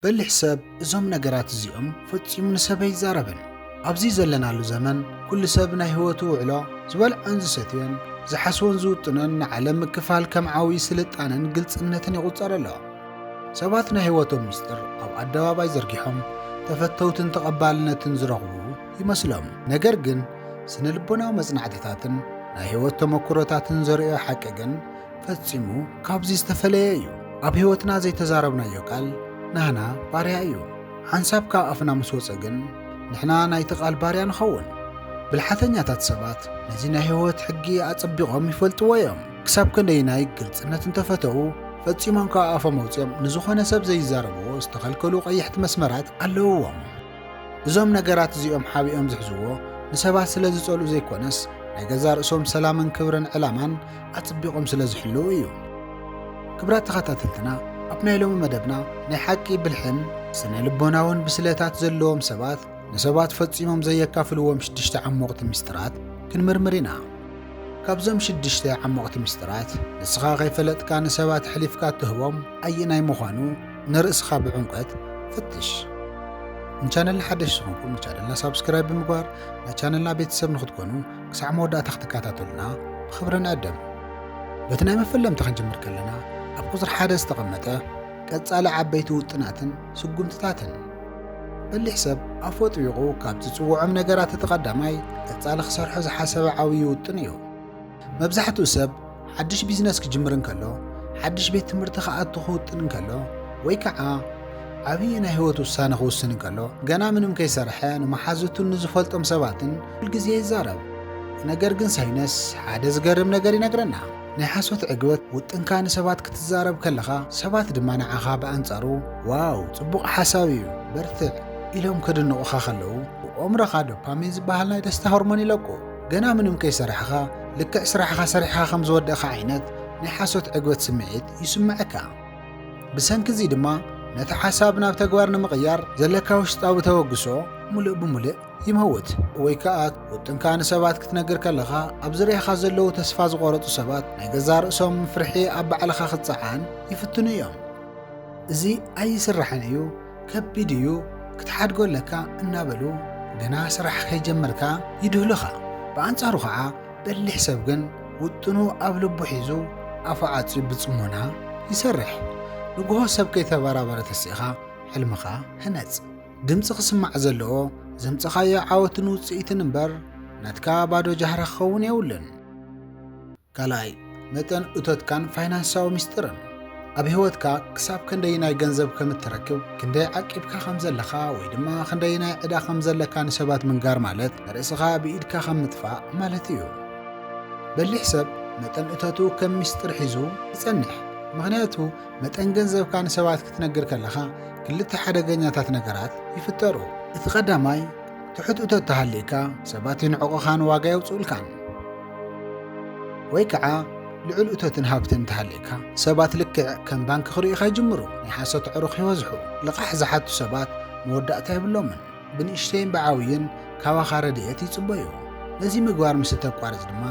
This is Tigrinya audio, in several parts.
በሊሕ ሰብ እዞም ነገራት እዚኦም ፈጺሙ ንሰብ ኣይዛረብን። ኣብዚ ዘለናሉ ዘመን ኩሉ ሰብ ናይ ህይወቱ ውዕሎ፣ ዝበልዖን ዝሰትዮን፣ ዝሓስቦን ዝውጥኖን ንዓለም ምክፋል ከም ዓውዪ ስልጣነን ግልጽነትን ይቑጸር ኣሎ። ሰባት ናይ ህይወቶም ምስጢር ኣብ ኣደባባይ ዘርጊሖም ተፈተውትን ተቐባልነትን ዝረኽቡ ይመስሎም። ነገር ግን ስነ ልቦናዊ መጽናዕትታትን ናይ ህይወት ተመኩሮታትን ዘርእዮ ሓቂ ግን ፈጺሙ ካብዚ ዝተፈለየ እዩ። ኣብ ህይወትና ዘይተዛረብናዮ ቃል ናህና ባርያ እዩ። ሓንሳብ ካብ ኣፍና ምስ ወጸ ግን ንሕና ናይቲ ቃል ባርያ ንኸውን። ብልሓተኛታት ሰባት ነዚ ናይ ህይወት ሕጊ ኣጸቢቖም ይፈልጥዎ እዮም። ክሳብ ክንደይናይ ግልጽነት እንተፈተዉ ፈጺሞም ካብ ኣፎም ኣውጺኦም ንዝኾነ ሰብ ዘይዛረብዎ ዝተኸልከሉ ቀይሕቲ መስመራት ኣለዉዎም። እዞም ነገራት እዚኦም ሓቢኦም ዝሕዝዎ ንሰባት ስለ ዝጸልኡ ዘይኮነስ ናይ ገዛ ርእሶም ሰላምን ክብርን ዕላማን ኣጽቢቖም ስለ ዝሕልው እዩ። ክብራት ተኸታተልትና ኣብ ናይ ሎሚ መደብና ናይ ሓቂ ብልሕን ስነ ልቦናውን ብስለታት ዘለዎም ሰባት ንሰባት ፈጺሞም ዘየካፍልዎም ሽድሽተ ዓሞቕቲ ምስጢራት ክንምርምር ኢና። ካብዞም ሽድሽተ ዓሞቕቲ ምስጢራት ንስኻ ከይፈለጥካ ንሰባት ኣሕሊፍካ እትህቦም ኣየናይ ምዃኑ ንርእስኻ ብዕምቆት ፍትሽ። ንቻነልና ሓደሽ ዝኾንኩም ንቻነልና ሳብስክራይብ ብምግባር ናይ ቻነልና ቤተሰብ ንክትኮኑ ክሳዕ መወዳእታ ክትከታተሉና ብኽብሪ ንዕድም። በቲ ናይ መፈለምታ ክንጅምር ከለና ኣብ ቁፅሪ ሓደ ዝተቐመጠ ቀጻሊ ዓበይቲ ውጥናትን ስጉምትታትን በሊሕ ሰብ ኣፉ ኣጥቢቑ ካብ ዝጽውዖም ነገራት እቲ ቀዳማይ ቀጻሊ ክሰርሖ ዝሓሰበ ዓብዪ ውጥን እዩ። መብዛሕትኡ ሰብ ሓድሽ ቢዝነስ ክጅምር እንከሎ፣ ሓድሽ ቤት ትምህርቲ ክኣቱ ክውጥን እንከሎ፣ ወይ ከዓ ዓብዪ ናይ ህይወት ውሳነ ክውስን እንከሎ ገና ምንም ከይሰርሐ ንመሓዙቱን ንዝፈልጦም ሰባትን ኩል ግዜ ይዛረብ። ነገር ግን ሳይነስ ሓደ ዝገርም ነገር ይነግረና። ናይ ሓሶት ዕግበት፣ ውጥንካ ንሰባት ክትዛረብ ከለኻ ሰባት ድማ ንዓኻ ብኣንጻሩ ዋው ጽቡቕ ሓሳብ እዩ በርትዕ ኢሎም ከድንቑኻ ከለዉ ብኦምሮኻ ዶፓሚን ዝበሃል ናይ ደስታ ሆርሞን ይለቁ። ገና ምንም ከይሰራሕኻ ልክዕ ስራሕኻ ሰሪሕኻ ከም ዝወደእኻ ዓይነት ናይ ሓሶት ዕግበት ስምዒት ይስምዐካ። ብሰንኪ እዚ ድማ ነቲ ሓሳብ ናብ ተግባር ንምቕያር ዘለካ ውሽጣዊ ተበግሶ ሙልእ ብሙልእ ይመውት። ወይ ከኣ ውጥንካ ንሰባት ክትነግር ከለኻ ኣብ ዝርያኻ ዘለዉ ተስፋ ዝቖረጹ ሰባት ናይ ገዛ ርእሶም ፍርሒ ኣብ ባዕልኻ ክጸዓን ይፍትኑ እዮም። እዚ ኣይስራሕን እዩ ከቢድ እዩ ክትሓድጎ ኣለካ እናበሉ ገና ስራሕ ከይጀመርካ ይድህሉኻ። ብኣንጻሩ ኸኣ በሊሕ ሰብ ግን ውጥኑ ኣብ ልቡ ሒዙ ኣፉ ዓጽዩ ብጽሞና ይሰርሕ። ንግሆ ሰብ ከይተበራበረ ተሲእኻ ሕልምኻ ህነጽ። ድምጺ ክስማዕ ዘለዎ ዘምጸኻዮ ዓወትን ውጽኢትን እምበር ናትካ ባዶ ጃህራ ክኸውን የብሉን። ካልኣይ፣ መጠን እቶትካን ፋይናንሳዊ ሚስጥርን፣ ኣብ ህይወትካ ክሳብ ከንደይናይ ገንዘብ ከም እትረክብ፣ ክንደይ ዓቂብካ ከም ዘለኻ ወይ ድማ ክንደይናይ ዕዳ ከም ዘለካ ንሰባት ምንጋር ማለት ንርእስኻ ብኢድካ ከም ምጥፋእ ማለት እዩ። በሊሕ ሰብ መጠን እቶቱ ከም ሚስጥር ሒዙ ይጸንሕ፣ ምኽንያቱ መጠን ገንዘብካ ንሰባት ክትነግር ከለኻ ክልተ ሓደገኛታት ነገራት ይፍጠሩ። እቲ ቀዳማይ፣ ትሑት እቶት ተሃልይካ ሰባት ይንዕቑኻን ዋጋ የውጽኡልካን። ወይ ከዓ ልዑል እቶትን ሃብትን እንተሃልየካ ሰባት ልክዕ ከም ባንኪ ክርእዩኻ ይጅምሩ፣ ናይ ሓሶት ኣዕሩኽ ይበዝሑ፣ ልቓሕ ዝሓቱ ሰባት መወዳእታ የብሎምን፣ ብንእሽተይን ብዓብዩን ካባኻ ረድኤት ይጽበዩ። ነዚ ምግባር ምስ እተቋርጽ ድማ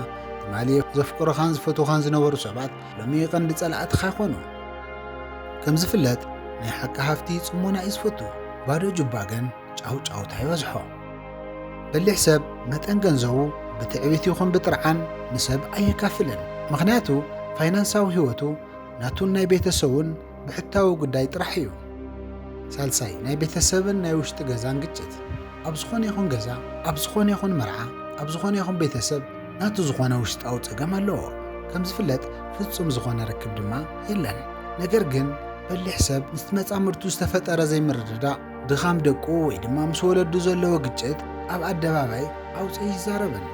ትማሊ ዘፍቅሩኻን ዝፈትዉኻን ዝነበሩ ሰባት ሎሚ ቀንዲ ጸላእትኻ ይኾኑ። ከም ዝፍለጥ ናይ ሓቂ ሃፍቲ ጽሞና እዩ ዝፈቱ፣ ባዶ ጁባ ግን ጫውጫውታ ይበዝሖ። በሊሕ ሰብ መጠን ገንዘቡ ብትዕቢት ይኹን ብጥርዓን ንሰብ ኣየካፍልን። ምኽንያቱ ፋይናንሳዊ ህይወቱ ናቱን ናይ ቤተሰቡን ብሕታዊ ጉዳይ ጥራሕ እዩ። ሳልሳይ ናይ ቤተሰብን ናይ ውሽጢ ገዛን ግጭት። ኣብ ዝኾነ ይኹን ገዛ፣ ኣብ ዝኾነ ይኹን መርዓ፣ ኣብ ዝኾነ ይኹን ቤተሰብ ናቱ ዝኾነ ውሽጣዊ ጸገም ኣለዎ። ከም ዝፍለጥ ፍጹም ዝኾነ ርክብ ድማ የለን። ነገር ግን በሊሕ ሰብ ምስ መጻምድቱ ዝተፈጠረ ዘይምርድዳእ ድኻም ደቁ ወይ ድማ ምስ ወለዱ ዘለዎ ግጭት ኣብ ኣደባባይ ኣውፂኡ ይዛረበሉ።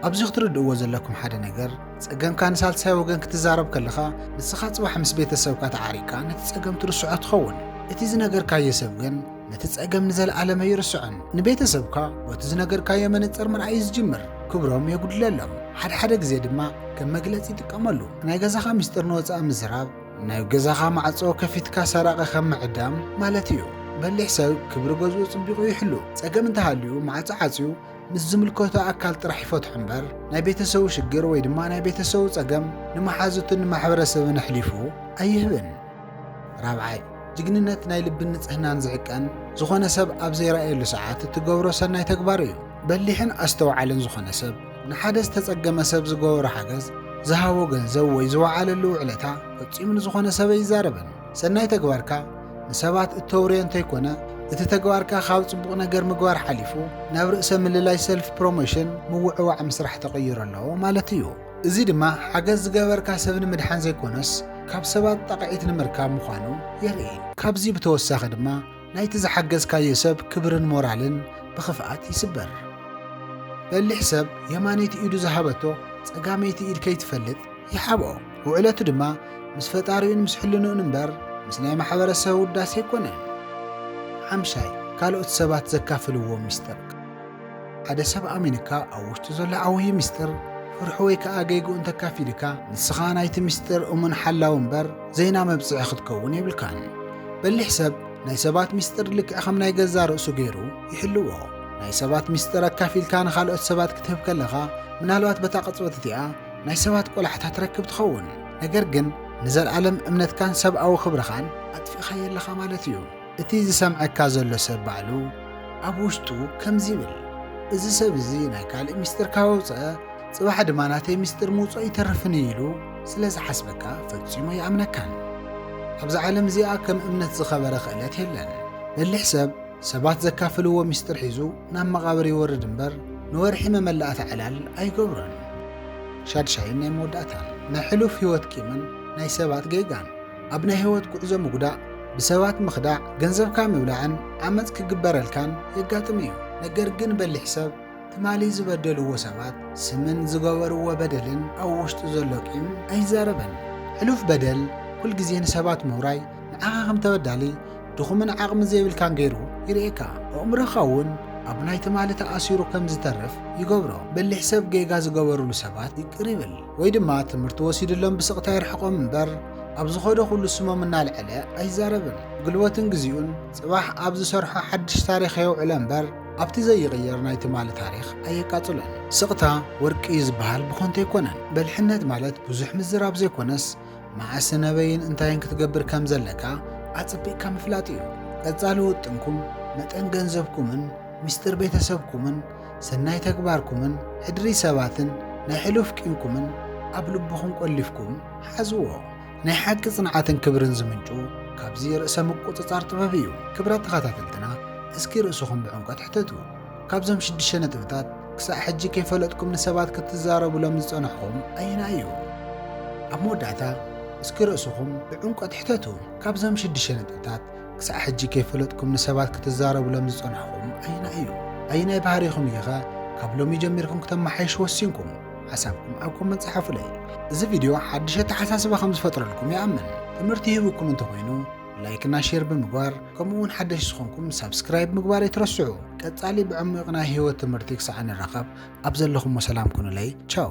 ኣብዚ ክትርድእዎ ዘለኩም ሓደ ነገር ፀገምካ ንሳልሳይ ወገን ክትዛረብ ከለኻ ንስኻ ፅባሕ ምስ ቤተሰብካ ተዓሪቅካ ነቲ ፀገም ትርስዖ ትኸውን። እቲ ዝነገርካዮ ሰብ ግን ነቲ ፀገም ንዘለኣለም ኣይርስዖን። ንቤተሰብካ ቦቲ ዝነገርካዮ መነፅር ምርኣይ እዩ ዝጅምር። ክብሮም የጉድለሎም። ሓድሓደ ግዜ ድማ ከም መግለፂ ይጥቀመሉ። ናይ ገዛኻ ሚስጥር ንወፃኢ ምዝራብ፣ ናይ ገዛኻ ማዕጾ ከፊትካ ሰራቒ ከም ምዕዳም ማለት እዩ። በሊሕ ሰብ ክብሪ ገዝኡ ጽቢቑ ይሕሉ። ጸገም እንተሃልዩ ማዕጾ ዓጽዩ ምስ ዝምልከቶ ኣካል ጥራሕ ይፈትሖ እምበር ናይ ቤተሰቡ ሽግር ወይ ድማ ናይ ቤተሰቡ ጸገም ንመሓዙትን ንማሕበረሰብን ኣሕሊፉ ኣይህብን። ራብዓይ ጅግንነት ናይ ልብን ንጽህናን ዝዕቀን ዝኾነ ሰብ ኣብ ዘይረኣየሉ ሰዓት እትገብሮ ሰናይ ተግባር እዩ። በሊሕን ኣስተውዓልን ዝኾነ ሰብ ንሓደ ዝተጸገመ ሰብ ዝገበሮ ሓገዝ፣ ዝሃቦ ገንዘብ ወይ ዝወዓለሉ ውዕለታ ፈጺሙ ንዝኾነ ሰብ ኣይዛረብን። ሰናይ ተግባርካ ንሰባት እተውርዮ እንተይኮነ፣ እቲ ተግባርካ ካብ ጽቡቕ ነገር ምግባር ሓሊፉ ናብ ርእሰ ምልላይ፣ ሰልፍ ፕሮሞሽን፣ ምውዕዋዕ ምስራሕ ተቐይሩ ኣሎ ማለት እዩ። እዚ ድማ ሓገዝ ዝገበርካ ሰብ ንምድሓን ዘይኮነስ ካብ ሰባት ጣቕዒት ንምርካብ ምዃኑ የርኢ። ካብዚ ብተወሳኺ ድማ፣ ናይቲ ዝሓገዝካዮ ሰብ ክብርን ሞራልን ብኽፍኣት ይስበር። በሊሕ ሰብ የማነይቲ ኢዱ ዝሃበቶ ጸጋመይቲ ኢድ ከይትፈልጥ ይሓብኦ። ውዕለቱ ድማ ምስ ፈጣሪኡን ምስ ሕልንኡን እምበር ምስ ናይ ማሕበረሰብ ውዳሴ ኣይኮነን። ሓምሻይ፣ ካልኦት ሰባት ዘካፍልዎ ሚስጥር። ሓደ ሰብ ኣሚኑካ ኣብ ውሽጡ ዘሎ ዓውዪ ምስጢር ፍርሑ ወይ ከኣ ገይግኡ እንተካፊሉካ ንስኻ ናይቲ ምስጢር እሙን ሓላዊ እምበር ዘይና መብጽዒ ክትከውን የብልካን። በሊሕ ሰብ ናይ ሰባት ምስጢር ልክዕ ከም ናይ ገዛ ርእሱ ገይሩ ይሕልዎ። ናይ ሰባት ምስጢር ኣካፊልካ ንኻልኦት ሰባት ክትህብ ከለኻ ምናልባት በታ ቅጽበት እቲኣ ናይ ሰባት ቆላሕታ ትረክብ ትኸውን። ነገር ግን ንዘለኣለም እምነትካን ሰብኣዊ ክብርኻን ኣጥፊእኻዮ ኣለኻ ማለት እዩ። እቲ ዝሰምዐካ ዘሎ ሰብ ባዕሉ ኣብ ውሽጡ ከምዚ ይብል እዚ ሰብ እዚ ናይ ካልእ ሚስጥር ካብ ኣውጸኣ ጽባሕ ድማ ናተይ ሚስጥር ምውጽኦ ኣይተርፍን እዩ ኢሉ ስለ ዝሓስበካ ፈጺሙ ኣይኣምነካን። ኣብዛ ዓለም እዚኣ ከም እምነት ዝኸበረ ክእለት የለን። በሊሕ ሰብ ሰባት ዘካፍልዎ ሚስጥር ሒዙ ናብ መቓብር ይወርድ እምበር ንወርሒ መመላእታ ዕላል ኣይገብሮን። ሻድሻይን ናይ መወዳእታን ናይ ሕሉፍ ህይወት ቂምን ናይ ሰባት ጌጋን ኣብ ናይ ህይወት ጉዕዞ ምጉዳእ፣ ብሰባት ምኽዳዕ፣ ገንዘብካ ምብላዕን ዓመጽ ክግበረልካን የጋጥም እዩ። ነገር ግን በሊሕ ሰብ ትማሊ ዝበደልዎ ሰባት ስምን ዝገበርዎ በደልን ኣብ ውሽጡ ዘሎ ቂም ኣይዛረብን። ሕሉፍ በደል ኩል ግዜ ንሰባት ምውራይ ንዓኻ ከም ተበዳሊ፣ ድኹምን ዓቕሚ ዘይብልካን ገይሩ ይርእየካ። ኣእምሮኻ እውን ኣብ ናይ ትማሊ ተኣሲሩ ከም ዝተርፍ ይገብሮ። በሊሕ ሰብ ጌጋ ዝገበርሉ ሰባት ይቅር ይብል። ወይ ድማ ትምህርቲ ወሲድሎም ብስቕታ የርሕቖም እምበር ኣብ ዝኸዶ ኩሉ ስሞም እናልዐለ ኣይዛረብን። ጉልበቱን ግዚኡን ጽባሕ ኣብ ዝሰርሖ ሓድሽ ታሪኽ የውዕሎ እምበር ኣብቲ ዘይቕየር ናይ ትማሊ ታሪኽ ኣየቃጽሎን። ስቕታ ወርቂ እዩ ዝበሃል ብኾንቱ ኣይኮነን። በልሕነት ማለት ብዙሕ ምዝራብ ዘይኮነስ መዓስን ኣበይን እንታይን ክትገብር ከም ዘለካ ኣጸቢቕካ ምፍላጥ እዩ። ቀጻሊ ውጥንኩም፣ መጠን ገንዘብኩምን ሚስጥር ቤተሰብኩምን ሰናይ ተግባርኩምን ሕድሪ ሰባትን ናይ ሕሉፍ ቂምኩምን ኣብ ልብኹም ቆሊፍኩም ሓዝዎ። ናይ ሓቂ ጽንዓትን ክብርን ዝምንጩ ካብዚ ርእሰ ምቁጽጻር ጥበብ እዩ። ክብራት ተኸታተልትና እስኪ ርእስኹም ብዕምቆት ሕተቱ። ካብዞም ሽዱሽተ ነጥብታት ክሳዕ ሕጂ ከይፈለጥኩም ንሰባት ክትዛረቡሎም ዝጸናሕኹም ኣየናይ እዩ? ኣብ መወዳእታ እስኪ ርእስኹም ብዕምቆት ሕተቱ። ካብዞም ሽዱሽተ ነጥብታት ክሳዕ ሕጂ ከይፈለጥኩም ንሰባት ክትዛረቡሎም ዝጸናሕኹም ኣየናይ እዩ? ኣየናይ ባህሪኹም እዩ ከ ካብ ሎሚ ጀሚርኩም ክተመሓይሹ ወሲንኩም? ሓሳብኩም ኣብ ኮመንት ጸሓፉለይ። እዚ ቪድዮ ሓድሽ ኣተሓሳስባ ከም ዝፈጥረልኩም ይኣምን። ትምህርቲ ሂቡኩም እንተኾይኑ ላይክ እና ሼር ብምግባር ከምኡ እውን ሓደሽ ዝኾንኩም ሳብስክራይብ ምግባር ኣይትረስዑ። ቀጻሊ ብዕሙቕ ናይ ህይወት ትምህርቲ ክሳዕ ንራኸብ ኣብ ዘለኹሞ ሰላም ኩኑለይ። ቻው!